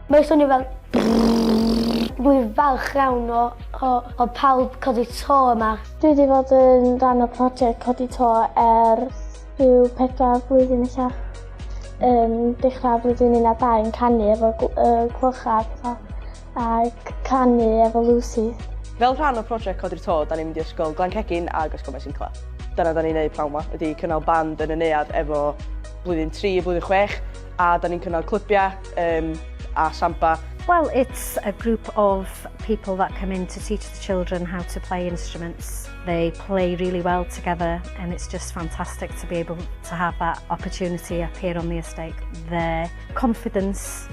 Mae'n swnio fel Rwy'n falch iawn o, o, o pawb codi to yma. Dwi wedi bod yn rhan o prosiect codi to er rhyw pedwar blwyddyn eich Yn dechrau blwyddyn 12 yn canu efo uh, clwchau a pethau. ac canu efo Lucy. Fel rhan o project Codi'r To, da ni'n mynd i Ysgol Glancegin ag Ysgol Maesincla. Dyna da ni'n neud pnawn ma, ydi cynnal band yn y neuad efo blwyddyn 3 a blwyddyn 6, a da ni'n cynnal clybiau um, a samba. Well, it's a group of people that come in to teach the children how to play instruments. They play really well together and it's just fantastic to be able to have that opportunity up here on the estate. Their confidence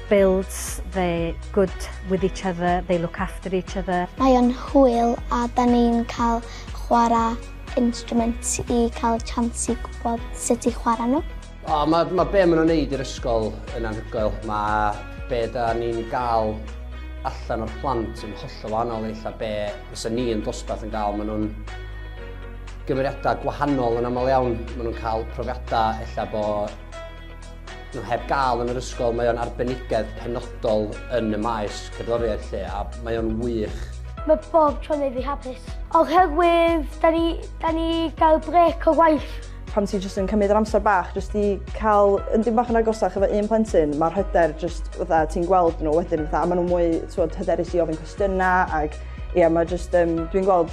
builds they're good with each other, they look after each other. Mae o'n hwyl a 'da ni'n cael chwarae instruments i cael chance i gwybod sut i chwarae nhw. O, mae, mae be maen nhw'n neud i'r ysgol yn anhygoel. Mae be da ni'n gael allan o'r plant yn hollol wahanol i lle be fysa ni yn dosbarth yn gael. Maen nhw'n gymeriadau gwahanol yn aml iawn. Maen nhw'n cael profiadau ella bo Nhw heb gael yn yr ysgol, mae o'n arbenigedd penodol yn y maes cerddoriaeth lle a mae o'n wych. Mae bob tro'n ei fi hapus. Oherwydd, da ni, da ni gael brec o waith. Pan ti jyst yn cymryd yr amser bach jyst i cael yn dim bach yn agosach efo un plentyn, mae'r hyder jyst fatha ti'n gweld nhw wedyn fatha, a maen nhw'n mwy, ti'n hyderus i ofyn cwestiynau ac ie, mae jyst, um, dwi'n gweld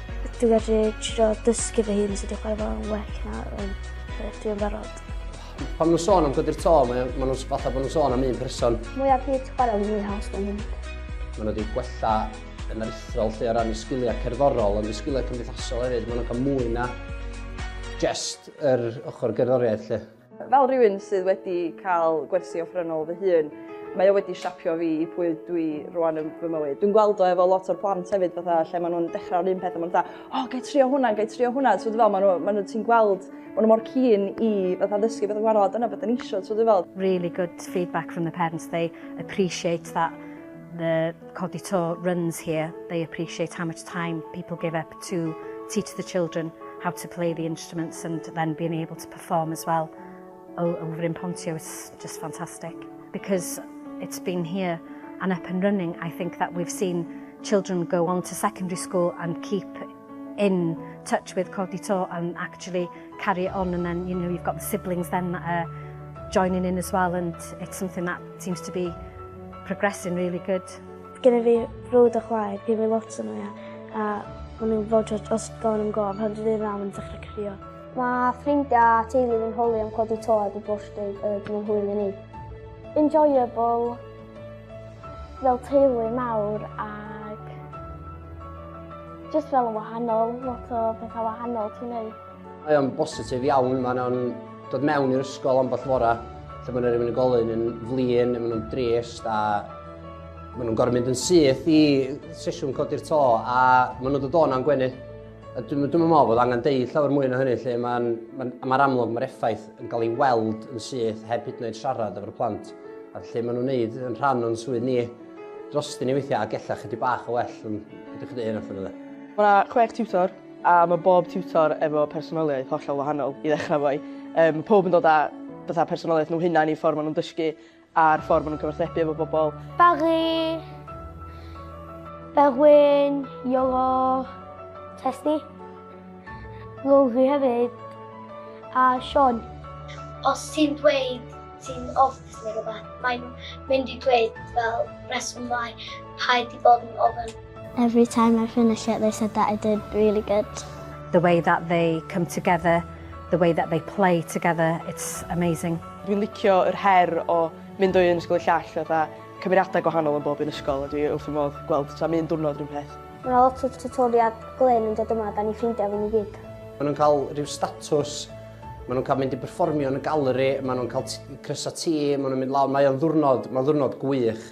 Dwi wedi trio dysgu fy hun sut i chwarae fo'n well na yn beth dwi'n barod. Pan nhw'n sôn am godi'r to, mae ma nhw'n fatha bod nhw'n sôn am un person. Mwy ar byd chwarae yn mwy haws mewn hyn. Mae nhw wedi gwella yn aruthrol lle o ran y sgiliau cerddorol, ond y sgiliau cymdeithasol hefyd, mae nhw'n cael mwy na just yr ochr gerddoriaeth lle. Fel rhywun sydd wedi cael gwersi offerynnol fy hun, mae o wedi siapio fi i pwy dwi rwan yn fy mywyd. Dwi'n gweld o efo lot o'r plant hefyd fatha lle maen nhw'n dechrau'r un peth a maen nhw'n fatha, o, oh, gai trio hwnna, gai trio hwnna. So, fel, maen nhw, maen nhw ti'n gweld, maen nhw mor cyn i fatha ddysgu beth yn gwahanol, dyna beth yn eisiau, so, fel. Really good feedback from the parents, they appreciate that the Codi To runs here, they appreciate how much time people give up to teach the children how to play the instruments and then being able to perform. form as well o o Bryn Pontio it's just fantastic because it's been here and up and running I think that we've seen children go on to secondary school and keep in touch with Codi To and actually carry it on and then you know you've got the siblings then that are joining in as well and it's something that seems to be progressing really good. Gynna fi brwd a chwaer, fi fi lot yn nhw a maen nhw'n fod os gofyn am gof, pan dwi'n ei fam yn dechrau crio. Mae ffrindiau a teulu fi'n holi am codi to heb y bwrstyd y dyn hwyl i ni. Enjoyable fel teulu mawr ac just fel yn wahanol, lot o bethau wahanol ti'n neud. Mae o'n bositif iawn, mae nhw'n dod mewn i'r ysgol ambell fora lle mae yna rhywun yn golyn yn flin, mae nhw'n drist a mae nhw'n gorfod mynd yn syth i sesiwn codi'r to a mae nhw'n dod o'n am gwenu. Dwi'n meddwl bod angen deud llawer mwy na hynny lle mae'n ma ma amlwg mae'r effaith yn cael ei weld yn syth heb hyd yn oed siarad efo'r plant a lle maen nhw'n neud yn rhan o'n swydd ni dros dyn ni weithiau a gellach ydy bach o well yn ydych chi dweud hyn allan Mae yna chwech tiwtor a mae bob tiwtor efo personoliaeth hollol wahanol i ddechrau fwy. Um, pob yn dod â bethau personoliaeth nhw hunain i ffordd maen nhw'n dysgu A'r ffordd maen nhw'n cyfathrebu efo bobl. Bagu, Berwyn, Iolo, Tesni, Lowri hefyd, a Sean. Os ti'n dweud ti'n ofnus neu rhywbeth, mae'n mynd i dweud fel rheswm mai rhaid i bod yn ofn. Every time I finish it they said that I did really good. The way that they come together, the way that they play together, it's amazing. Dwi'n licio yr her o mynd o un ysgol i'r llall fatha cymeriadau gwahanol yn bob un ysgol a dwi wrth fy modd gweld tra mi un diwrnod rhywun peth. Mae yna lot o tiwtoriad glên yn dod yma, da ni'n ffrindiau fan i gyd. Maen nhw'n cael rhyw statws Maen nhw'n cael mynd i berfformio yn y galeri, maen nhw'n cael crysau ti, maen nhw'n mynd lawr, mae o'n ddwrnod, mae'n ddwrnod gwych.